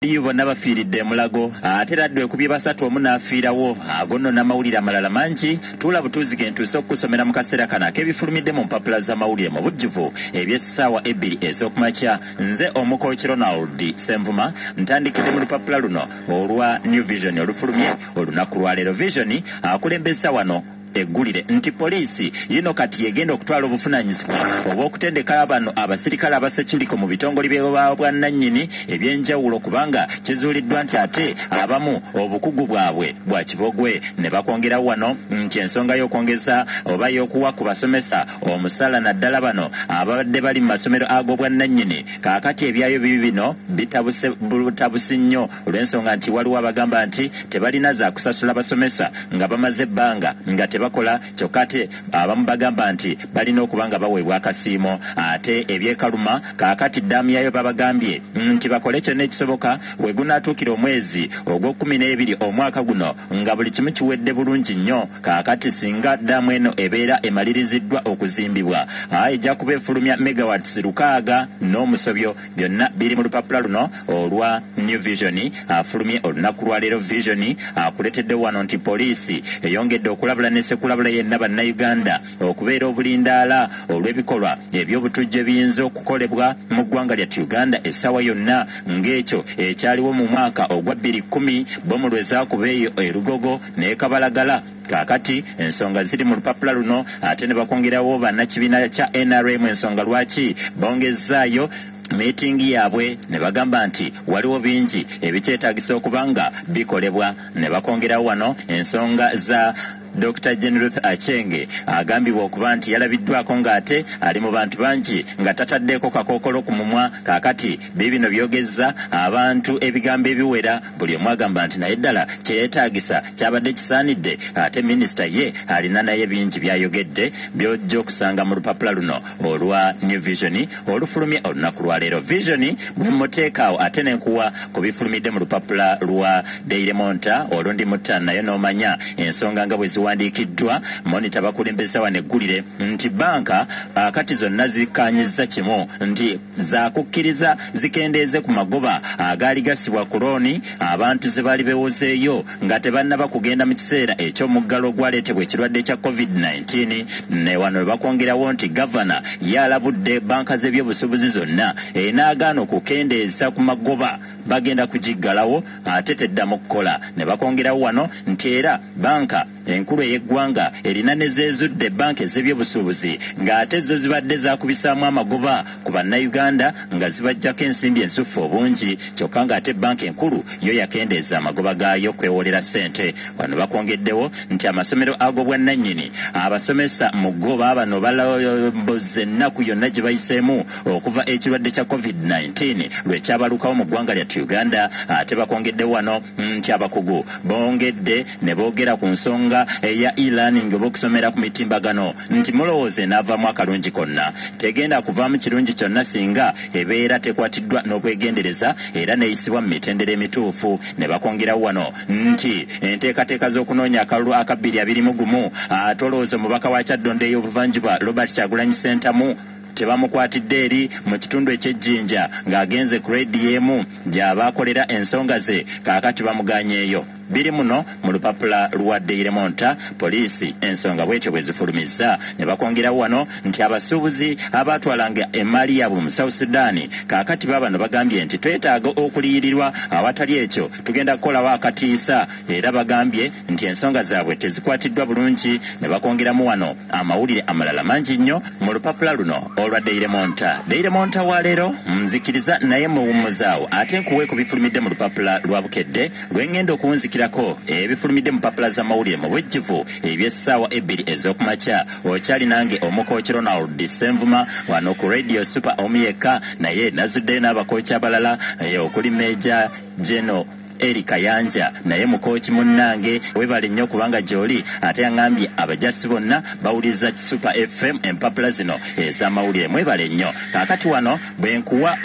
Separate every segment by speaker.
Speaker 1: Iyo bonna bafiiridde emulago ate era ddwe kubye basatu omu n'afiirawo ago nno n'amawulire amalala mangi tuula butuuzi ge ntuuse okukusomera mu kaseera kano ak'ebifulumidde mu mpapula z'amawulire mu bujjuvu eby'essaawa ebbiri ez'okumakya nze omukooki ronald senvuma ntandikidde mu lupapula luno olwa new vision olufulumye olunaku lwaleero vision akulembeza wano yatuwadde eggulire nti poliisi yino kati yegenda okutwala obuvunanyizibwa obw'okutendeka bano abasirikale aba securiko mu bitongole bya bwannanyini ebyenjawulo kubanga kizuuliddwa nti ate abamu obukugu bwabwe bwa kibogwe ne bakwongerawo wano nti ensonga y'okwongeza oba y'okuwa ku basomesa omusala naddala bano ababadde bali mu masomero ag'obwannanyini kakati ebyayo bibino bitabuse butabusi nnyo olw'ensonga nti waliwo abagamba nti tebalina zakusasula basomesa nga bamaze ebbanga nga tebakola kyokka ate abamu bagamba nti balina okuba nga baweebwa akasiimo ate eby'e Kaluma kaakati ddaamu yaayo babagambye nti bakole kyonna ekisoboka we gunaatuukira omwezi ogw'okkumi n'ebiri omwaka guno nga buli kimu kiwedde bulungi nnyo kaakati singa ddaamu eno ebeera emaliriziddwa okuzimbibwa ejja kuba efulumya megawatts lukaaga n'omusobyo Byonna biri mu lupapula luno olwa New Vision afulumye olunaku lwa leero. Vision akuletedde wano nti Poliisi eyongedde okulabula ne sekulabula yenna Bannayuganda okubeera obulindaala olw'ebikolwa eby'obutujju ebiyinza okukolebwa mu ggwanga lyattu Uganda essaawa yonna ng'ekyo ekyaliwo mu mwaka ogwa bbiri kkumi bomu lwe zaakuba eyo e Lugogo n'e Kabalagala. Kaakati ensonga ziri mu lupapula luno ate ne bakwongerawo bannakibiina kya nrm ensonga lwaki bongezzaayo miitingi yaabwe ne bagamba nti waliwo bingi ebikyetaagisa okuba nga bikolebwa ne bakwongerawo wano ensonga za Dokita Jane Ruth Aceng agambibwa okuba nti yalabiddwaako ng'ate ali mu bantu bangi nga tataddeeko kakookolo ku mumwa kaakati Biibino byogezza abantu ebigambo ebiwera buli omu agamba nti naye ddala kyeyetaagisa kyabadde kisaanidde ate minisita ye alina naye bingi byayogedde byojja okusanga mu lupapula luno olwa New Vision olufulumye olunaku lwaleero. Vision bwemuteeka awo ate nenkuwa ku bifulumidde mu lupapula lwa Daily Monta olwo ndi mutta nayo nomanya ensonga nga bweziwandiikiddwa Monitor bakulembeza wano eggulire nti bbanka akati zonna zikkaanyizza kimu nti zaakukkiriza zikendeeze ku magoba agaali gassibwa ku looni abantu ze baali beewozeeyo nga tebannaba kugenda mu kiseera eky'omuggalo ogwaleetebwa ekirwadde kya Covid nineteen ne wano we bakwongerawo nti Gavana ye alabudde bbanka z'ebyobusuubuzi zonna enaagaana okukendeeza ku magoba bagenda kugiggalawo ate teddamu kukola ne bakwongerawo wano nti era bbanka enkulu ey'eggwanga erina ne z'ezudde bbanka ez'ebyobusuubuzi ng'ate zo zibadde zaakubisaamu amagoba ku Bannayuganda nga zibaggyako ensimbi ensuffu obungi kyokka ng'ate bbanka enkulu yo yakendeeza amagoba gaayo kwewoolera ssente. Wano bakwongeddewo nti amasomero ag'obwannannyini abasomesa mu ggo baabano balambuzze ennaku yonna gye bayiseemu okuva ekirwadde kya Covid nineteen lwe kyabalukawo mu ggwanga lyattu Uganda ate bakwongeddewo wano nti abakugu bongedde ne boogera ku nsonga eya e-learning oba okusomera ku mitimbagano nti mulowooza enaavaamu akalungi konna? Tegenda kuvaamu kirungi kyonna singa ebeera tekwatiddwa n'obwegendereza era n'eyisibwa mu mitendera emituufu. Ne bakongerawo wano nti enteekateeka z'okunoonya akalulu aka bbiri abiri mu gumu ate olowooza omubaka wa Kyaddondo ey'obuvanjuba Robert Kyagulanyi Ssentamu, Tebamukwatidde eri mu kitundu eky'e Jinja ng'agenze ku leediyo emu gy'aba akolera ensonga ze kaakati bamugaanyeeyo. Biri muno mu lupapula lwa Daily Monitor, poliisi ensonga bwetyo bwe zifulumizza ne bakwongerawo wano nti abasuubuzi abaatwalanga emmaali yaabwe mu South Sudan kaakati baabano bagambye nti twetaaga okuliyirirwa awatali ekyo tugenda kukolawo akatiisa era bagambye nti ensonga zaabwe tezikwatiddwa bulungi ne bakwongeramu wano Amawulire amalala mangi nnyo mu lupapula luno olwa Daily Monitor. Daily Monitor wa leero, nzikiriza naye mmwe wummuzaawo ate nkuwe ku bifulumidde mu lupapula lwa Bukedde lwe ng'enda okuwunzikirako ebifulumidde mu mpapula z'amawulire mu bujjuvu eby'essaawa ebbiri ez'oku makya. Okyali nange Omukooki Ronald Ssenvuma wano ku Radio Super omu yekka naye nazuddeyo n'abakooki abalala okuli Major General Eli Kayanja naye mukooki munnange webale nnyo kubanga gyoli ate yangambye abajasi bonna bawuliriza Kisupa FM empapula zino ez'amawulire mwebale nnyo kaakati wano bwenkuwa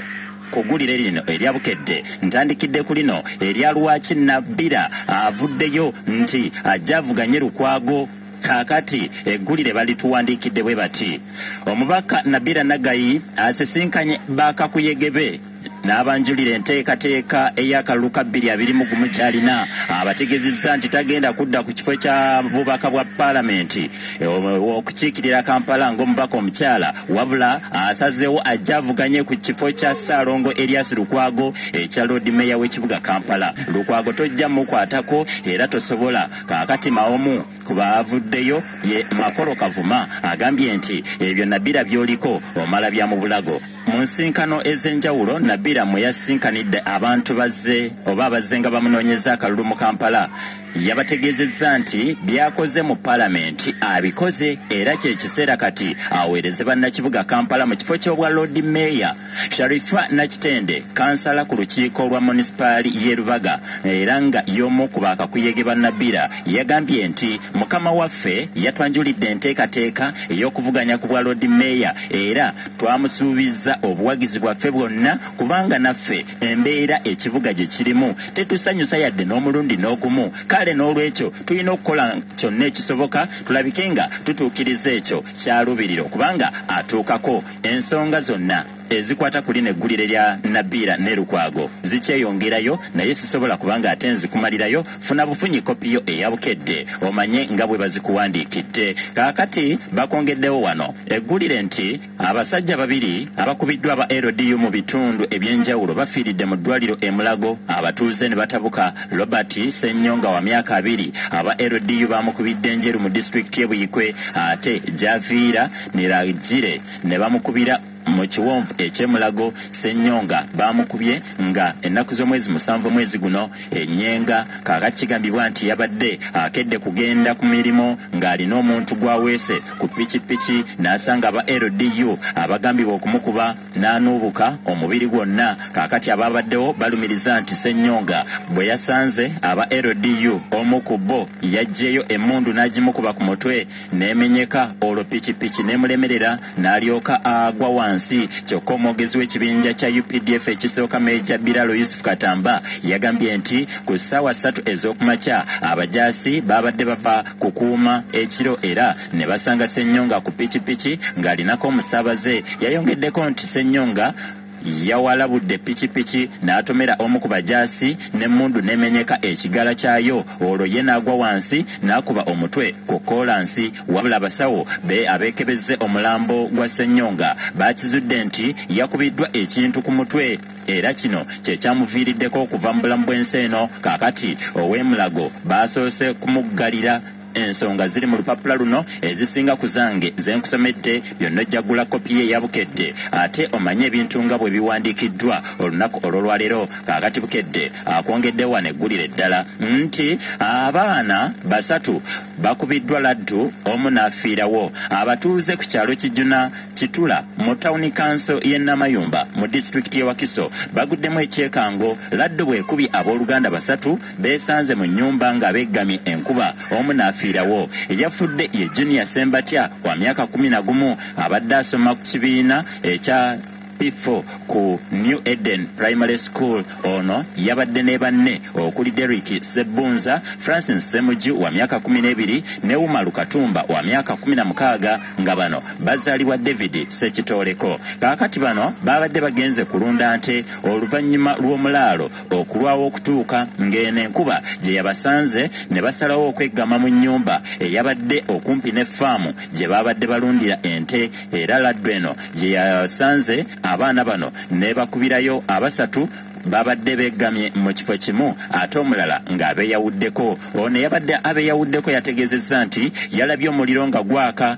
Speaker 1: kugulire lino erya Bukedde ntandikidde ku lino erya lwaki Nabbira avuddeyo nti ajja avuganye Lukwago kaakati eggulire balituwandiikidde bwe bati omubaka Nabbira Naggayi asisinkanye ba kakuyege be. n'abanjulira enteekateeka ey'akalulu ka bbiri abiri mu gumu ky'alina abategezezza nti tagenda kudda ku kifo kya bubaka bwa paalamenti okukiikirira Kampala ng'omubaka omukyala wabula asazeewo ajja avuganye ku kifo kya Ssaalongo Erias Lukwago ekya Loodi Meeya w'ekibuga Kampala. Lukwago tojja mukwatako era tosobola. Kaakati maomu ku baavuddeyo ye Makolo Kavuma agambye nti ebyo Nabirah by'oliko omala bya mu bulago. Mu nsinkano ez'enjawulo Nabilah mwe yasinkanidde abantu bazze oba abazze nga bamunoonyeza akalulu mu Kampala yabategeezezza nti by'akoze mu Palamenti abikoze era kye kiseera kati aweereze bannakibuga Kampala mu kifo ky'obwa Loodi Meeya. Sharifah Nakitende kansala ku lukiiko lwa Monisipaali y'e Lubaga era nga y'omu ku baakakuyege ba Nabilah yagambye nti, Mukama waffe yatwanjulidde enteekateeka ey'okuvuganya ku bwa Loodi Meeya era Twamusuubizza obuwagizi bwaffe bwonna kubanga naffe embeera ekibuga gye kirimu tetusanyusa yadde n'omulundi n'ogumu kale n'olwekyo tulina okukola kyonna ekisoboka tulabike nga tutuukiriza ekyo ky'aluubirira okuba nga atuukako. Ensonga zonna ezikwata ku lino eggulire lya Nabilah ne Lukwago zikyeyongerayo naye sisobola kuba ng'ate nzikumalirayo Funa bufunyi kkopi yo eya Bukedde omanye nga bwe bazikuwandiikidde. Kaakati bakwongeddewo wano eggulire nti abasajja babiri abakubiddwa aba LDU mu bitundu eby'enjawulo bafiiridde mu ddwaaliro e Mulago abatuuze ne batabuka. Robert Ssenyonga wa myaka abiri aba LDU baamukubidde Njeru mu disitulikiti ye Buikwe ate gy'aviira Niragire ne bamukubira Mu kiwonvu ekye Mulago, Ssenyonga baamukubye nga ennaku z'omwezi musanvu omwezi guno e Nyenga. Kaakati kigambibwa nti yabadde akedde kugenda ku mirimu ng'alina omuntu gw'aweese ku pikipiki n'asanga aba LDU abagambibwa okumukuba n'anuubuka omubiri gwonna. Kaakati abaabaddewo balumiriza nti Ssenyonga bwe yasanze aba LDU omu ku bo yaggyeeyo emmundu n'agimukuba ku mutwe. n'emenyeka olwo pikipiki n'emulemerera n'alyoka agwa wansi kyokka omwogezi w'ekibinja kya updf ekisooka Major Biralo Yusuf Katamba yagambye nti ku ssaawa ssatu ez'okumakya abajaasi baabadde bava kukuuma ekiro era ne basanga Ssenyonga ku pikipiki ng'alinako omusaabaze. Yayongeddeko nti Ssenyonga Yawalabudde pikipiki n'atomera omu ku bajaasi n'emmundu n'emenyeka ekigala kyayo olwo ye n'agwa wansi n'akuba omutwe ku kkoolansi wabula abasawo be abeekebezze omulambo gwa Ssenyonga baakizudde nti yakubiddwa ekintu ku mutwe era kino kye kyamuviiriddeko okuva mu bulamu bw'ensi eno kaakati ow'e Mulago baasoose kumuggalira Ensonga ziri mu lupapula luno, ezisinga ku zange ze nkusomedde. Byonna ojja kugula kopi ye eya Bukedde ate omanye ebintu nga bwe biwandiikiddwa olunaku olw'olwaleero. Kaakati Bukedde akwongedde wano eggulire eddala nti abaana basatu bakubiddwa laddu omu n'afiirawo. Abatuuze ku kyalo Kijuna Kitula mu tawuni kanso y'e Namayumba mu disitulikiti y'e Wakiso baguddemu ekyekango laddu bw'ekubye abooluganda basatu beesanze mu nnyumba nga beggamye enkuba omu n'afiirawo. Eyafudde ye Junior Ssembatya wa myaka kkumi na gumu abadde asoma ku kibiina ekya P4 ku New Eden Primary School. Ono yabadde ne banne okuli Derrick Ssebbunza, Francis Ssemuju wa myaka kkumi n'ebiri ne Umaru Katumba wa myaka kkumi na mukaaga nga bano bazaalibwa David Ssekitooleko. Kaakati bano baabadde bagenze kulunda nte oluvannyuma lw'omulaalo okulwawo okutuuka ng'eno enkuba gye yabasanze ne basalawo okweggama mu nnyumba eyabadde okumpi ne ffaamu gye baabadde balundira ente era laddu eno gye yasanze abaana bano n'ebakubirayo abasatu babadde begamye mu kifo kimu ate omulala ng'abeyawuddeko ono eyabadde abeyawuddeko yategezezza nti yalabye omuliro nga gwaka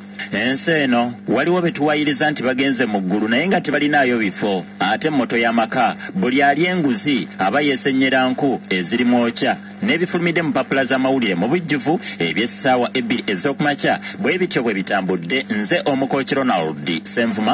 Speaker 1: Ensi eno waliwo betuwayiriza nti bagenze mu ggulu naye nga tebalinaayo bifo ate motto ya maka buli alya enguzi aba yesennyera nku eziri mwokya n'ebifulumidde mu mpapula z'amawulire mu bujjuvu eby'essaawa ebbiri ez'okumakya bwe bityo bwe bitambudde nze Omukooki Ronald Ssenvuma